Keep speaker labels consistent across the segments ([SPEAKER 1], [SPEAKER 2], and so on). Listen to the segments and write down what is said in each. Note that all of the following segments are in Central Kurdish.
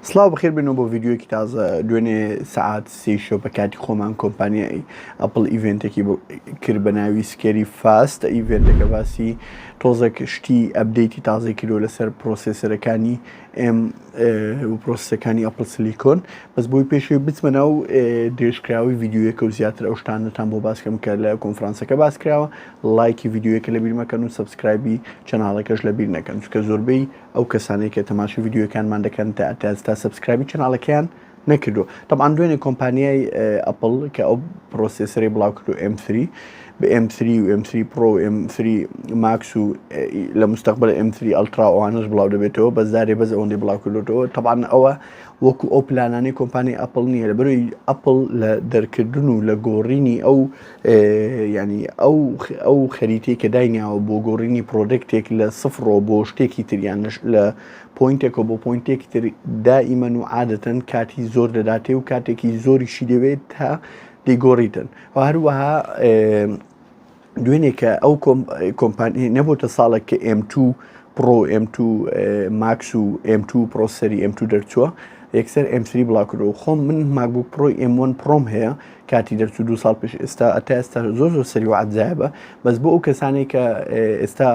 [SPEAKER 1] سڵاو بەخێر بێنەوە بۆ ڤیددیوەکی تازە دوێنێ سعات سی شۆ بە کاتی خۆمان کۆمپانیایی ئەپل ئیڤێنتێکی کرد بە ناوی سکێری فاستە ئیڤێنتەکە باسی تۆزێک شتی ئەبدەیتی تازەی کردو لەسەر پرۆسسەرەکانی ئێم پرۆسەکانی ئەپل سلیکۆن بەس بۆی پێشوی بچمە ناو درێژکراوی ڤیددیوەکە و زیاتر ئەو شتانەتان بۆ باسکەم کە لە کۆنفرانسەکە باسکراوە لایکی ڤیددیوەکە لە بیرمەکەن و سبسکرایبی چەناڵەکەش لە بیر نەکەن چکە زۆربەی ئەو کەسانەی کە تەماشی ڤیددیوەکانمان دەکەن تا تاستا سبسکرابی چناڵەکەیان نەکردو طبعاان دوێنێ کۆمپانیای ئەپل کە ئەو پرۆسیسری بڵاو کرد و M3 بە M3 و M3 پرۆ M3 ماکس و لە مستقبل M3 ئەلترا ئەوانش بڵاو دەبێتەوە بە زارێ بەز ئەوەندەی بڵاو کردوەوە طبعاان ئەوە وەکو ئەو پلانانەی کۆمپانی ئەپل نییە لە بەروی ئەپل لە دەرکردن و لە گۆڕینی ئەو و یانی ئەو خەریتەی کە داینیاوە بۆ گۆڕینی پرۆدەکتێک لە سفڕەوە بۆ شتێکی تر یان لە پۆینتێکەوە بۆ پۆینتێکی تر دائیمەن و عادەتەن کاتی زۆر دەداتێ و کاتێکی زۆریشی دەوێت تا دەیگۆڕیتن و هەروەها دوێنێکە ئەو کۆمپانی نەبووتە ساڵێک کە M2 پڕۆ M2 ماکس و M2 پرۆسەری M2 دەرچووە یەکسەر M3 بڵاکرۆ خۆم من ماگوک پرۆی M1 پرۆم هەیە کاتی دەرچوو دوو ساڵ پێش ئێستا ئەتا ئێستا زۆر زۆر سەری و عجایبە بەس بۆ ئەو کەسانێک کە ئێستا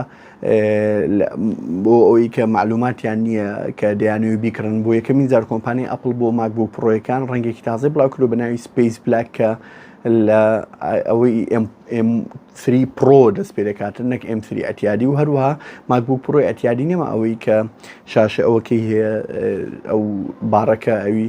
[SPEAKER 1] بۆ ئەوی کە معلوماتیان نییە کە دەیانەوە بیکڕن بۆ یەکەمین زار کۆمپانی ئەپل بۆ ماک بۆ پڕۆیەکان ڕەنگێکی تازای بڵاوکرۆ بەناوی سپیس بلاک کە لە ئەوەی M3 پرۆ دەست پێ دەکاتن نەک M3 ئەتیادی و هەروەها ماکبوو پرۆی ئەتیادی نەما ئەوەی کە شاشە ئەوەکەی هەیە ئەو باڕەکە ئەوی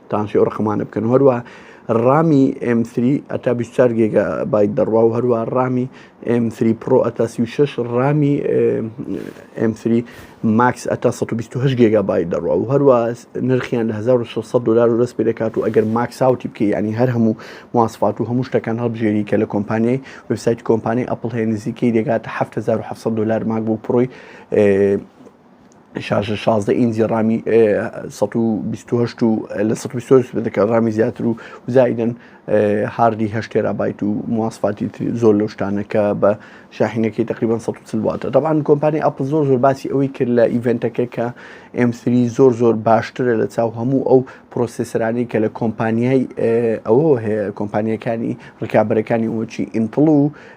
[SPEAKER 1] تانسیۆ ڕقمانە بکەن و هەروە ڕامی M3 ئەتا 24 گێگا بایت دەڕوا و هەروە ڕامی M3 پرۆ ئەتا 36 ڕامی M3 ماکس ئەتا 128 گێگا بایت دەڕوا و هەروە نرخیان لە 1600 دلار و دەست پێ دەکات و ئەگەر ماکساوتی بکە ینی هەر هەموو مواسفات و هەموو شتەکان هەڵبژێری کە لە کۆمپانیای وبسایت کۆمپانی ئەپل هەیە نزیکەی دەگاتە 1970 دلار ماک بۆ پرۆی شاشە شازدە ئینجی ڕامی سەد و بیست و هەشت و لە سەد و بیست و هەشت دەکە ڕامی زیاتر و زایدن هاردی هەشت تێرابایت و مواسفاتی تری زۆر لەو شتانە کە بە شاحینەکەی تقریبان 140 واتە دەبان کۆمپانی ئەپل زۆر زۆر باسی ئەوەی کرد لە ئیڤنتەکە کە M3 زۆر زۆر باشترە لە چاو هەموو ئەو پرۆسسرانی کە لە کۆمپانیای ئەوە هەیە کۆمپانیەکانی ڕکابەرەکانی وەچی ئینتڵ و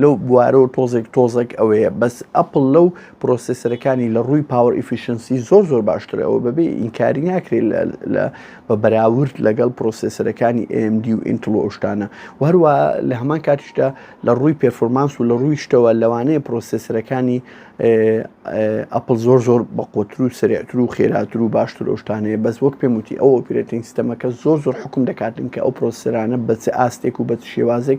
[SPEAKER 1] لەو بوارەوە تۆزێک تۆزەک ئەوەیە بەس ئەپل لەو پرۆسسەرەکانی لە ڕووی پاوەر ئیفیشنسی زۆر زۆر باشترە ئەوە بەبێ ئینکاری ناکرێت لە بە بەراورد لەگەڵ پرۆسسەرەکانی AMD و ئینتل و ئەوشتانە وهروە لە هەمان کاتیشدا لە ڕووی پێرفۆرمانس و لە ڕووی شتەوە لەوانەیە پرۆسسەرەکانی ئەپل زۆر زۆر بە قۆتر و سرێتر و خێراتر و باشتر ئەوشتانەیە بەس وەک پێم وتی ئەو ئۆپرێتین سیستەمەکە زۆر زۆر حکم دەکاتن کە ئەو پرۆسسەرانە بەچ ئاستێک و بە شێوازێک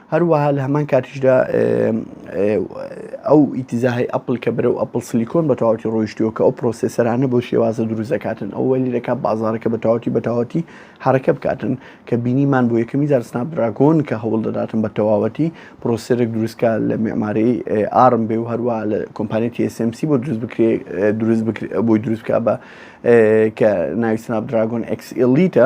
[SPEAKER 1] هەروەها لە هەمان کاتیشدا ئەو ئیتیزاهی ئەپل کە بەرەو ئەپل سلیکۆن بە تەواتی ڕۆیشتووە کە ئەو پرۆسسەرانە بۆ شێوازە دروزەکاتن ئەو وەلی دەکات بازارەکە بە تەواتی بە تەواتی حرەکە بکاتن کە بینیمان بۆ یەکەمی جار سناپ دراگۆن کە هەوڵ دەداتن بە تەواوەتی پرۆسسەرێک دروستکە لە معماری ئارم بێ و هەروە لە کۆمپانی TSMC بۆ دروست بکرێ دروست بۆی دروستکە بە کە ناوی سناپ دراگۆن ئەکسئلیتە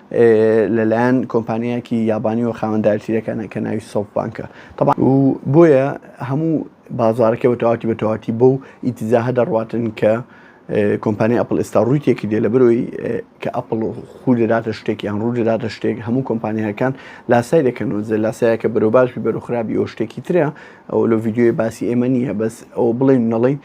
[SPEAKER 1] لەلایەن کۆمپانیایەکی یابانیەوە خاوەندارتی دەکەنە کە ناوی سۆف بانکە طبعا و بۆیە هەموو بازارەکە بە تەواتی بە تەواتی بۆ و ئیتزاهە دەڕواتن کە کۆمپانی ئەپل ئێستا ڕووی تێکی دێ لە برۆی کە ئەپل خو دەداتە شتێک یان ڕوو دەداتە شتێک هەموو کۆمپانیەکان لاسای دەکەنەوە زە لاسایەکە بەرۆ باش بەرو خراپی ئەو شتێکی ترە ئەو لە یددیوی باسی ئێمە نییە بەس ئەو بڵێن نەڵین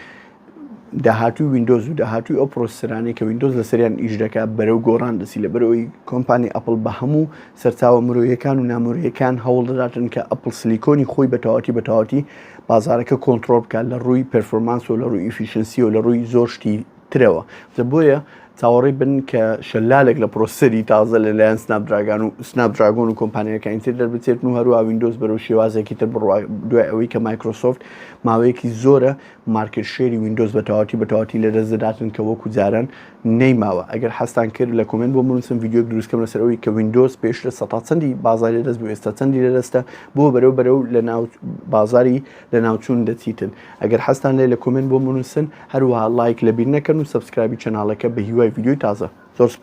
[SPEAKER 1] داهاتووی ویندۆز و داهاتووی ئەو پرۆسسرانەی کە ویندۆز لەسەریان ئیش دەکا بەرەو گۆڕان دەسی لە بەرەوەی کۆمپانی ئەپل بە هەموو سەرچاوە مرۆیەکان و نامرۆیەکان هەوڵ دەداتن کە ئەپل سلیکۆنی خۆی بە تەواتی بە تەواتی بازارەکە کۆنتترۆل بکات لە ڕووی پرفۆرمانس و لە ڕووی ئیفیشنسی و لە ڕووی زۆر شتی ترەوە زە بۆیە چاوەڕی بن کە شەلالێک لە پرۆسەری تازە لە لایەن سناپدراگان و سناپدراگۆن و کۆمپانیەکانی تر دەربچێت و هەروە وینندۆز بەرەو شێوازێکی تر بڕوا دوای ئەوەی کە مایکرۆسۆفت ماوەیەکی زۆرە مارکێت شێری ویندۆز بە تەواوەتی بە تەواوەتی لە دەست دەداتن کە وەکو جاران نەیماوە ئەگەر حەستان کرد لە کۆمێنت بۆ بنووسن ڤیدیۆک دروستکەم لەسەر ئەوی کە ویندۆز پێش لە سەتا چەندی بازاری دەست بۆ ئێستا چەندی لە دەستە بۆ بەرەو بەرەو لە ناو بازاری لە ناوچوون دەچیتن ئەگەر حەستان لێ لە کۆمێنت بۆ بنووسن هەروەها لایک لەبیر نەکەن و سەبسکرایبی چەناڵەکە بە هیوای ڤیدیۆی تازە زۆر سپاس.